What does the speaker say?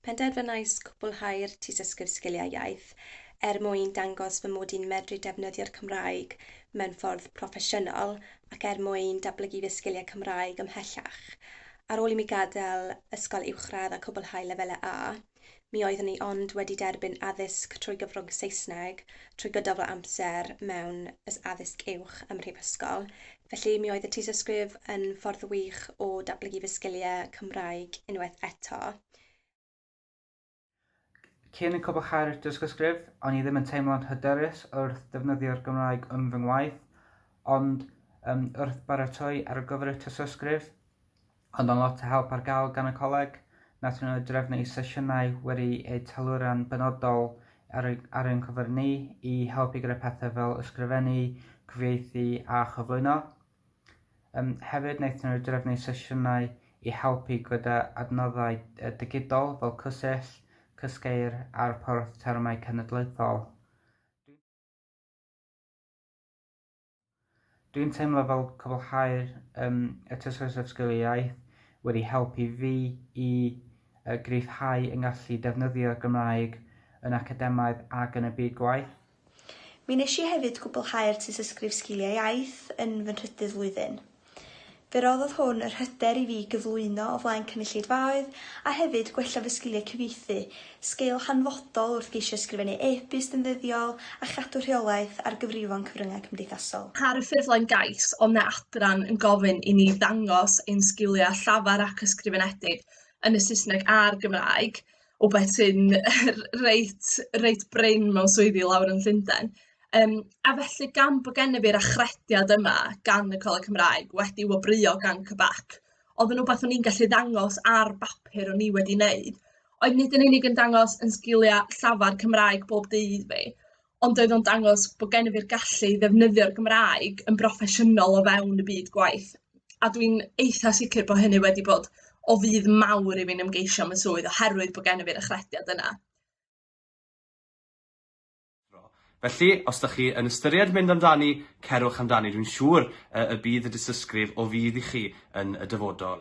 Penderfynais cwblhau'r Tystysgrif Sgiliau Iaith er mwyn dangos fy mod i'n medru defnyddio'r Cymraeg mewn ffordd proffesiynol ac er mwyn datblygu fy sgiliau Cymraeg ymhellach. Ar ôl i mi gadael ysgol uwchradd a cwblhau lefelau A, Mi oeddwn i ond wedi derbyn addysg trwy gyfrwng Saesneg trwy gydol fy amser mewn ys addysg uwch ym mhrifysgol, felly mi oedd y tystysgrif yn ffordd wych o datblygu fy sgiliau Cymraeg unwaith eto. Cyn cwblhau'r dystysgrif, o'n i ddim yn teimlo'n hyderus wrth ddefnyddio'r Gymraeg yn fy ngwaith, ond wrth baratoi ar gyfer y tystysgrif, Ond mae lot o help ar gael gan y Coleg. Wnaethon nhw drefnu sesiynau wedi eu teilwra'n benodol ar, ar ein cyfer ni i helpu gyda pethau fel ysgrifennu, cyfieithu a chyflwyno. Um, hefyd, wnaethon nhw drefnu sesiynau i helpu gyda adnoddau digidol fel cysill, cysgeir a'r porth termau cenedlaethol. Dwi'n teimlo fel cwblhau'r um, y tysgais at sgiliau iaith wedi helpu fi i uh, gryfhau yng ngallu defnyddio Gymraeg yn academaidd ac yn y byd gwaith. Mi nes i hefyd gwblhau'r tysysgrif sgiliau iaith yn fy nhrydydd flwyddyn. Fe roddodd hwn yr hyder i fi gyflwyno o flaen cynulleidfaoedd a hefyd gwella fy sgiliau cyfieithu, sgil hanfodol wrth geisio ysgrifennu e-byst yn ddyddiol a chadw rheolaeth ar gyfrifon cyfryngau cymdeithasol. Ar y ffurflen gais, o na adran yn gofyn i ni ddangos ein sgiliau llafar ac ysgrifenedig yn y Saesneg a'r Gymraeg, rywbeth sy'n reit reit brin mewn swyddi lawr yn Llundain. Yym, a felly gan bod gennyf fi'r achrediad yma gan y Coleg Cymraeg, wedi wobrwyo gan CBAC, oedd yn rywbeth o'n i'n gallu ddangos ar bapur o'n i wedi wneud, oedd nid yn unig yn dangos yn sgiliau llafar Cymraeg bob dydd fi, ond oedd o'n dangos bod gennyf i'r gallu i ddefnyddio'r Gymraeg yn broffesiynol o fewn y byd gwaith, a dwi'n eitha sicr bod hynny wedi bod o fudd mawr i fi'n ymgeisio am y swydd oherwydd bod gennyf i'r achrediad yna. Felly, os da chi yn ystyried mynd amdani, cerwch amdani, dwi'n siŵr y bydd y dystysgrif o fudd i chi yn y dyfodol.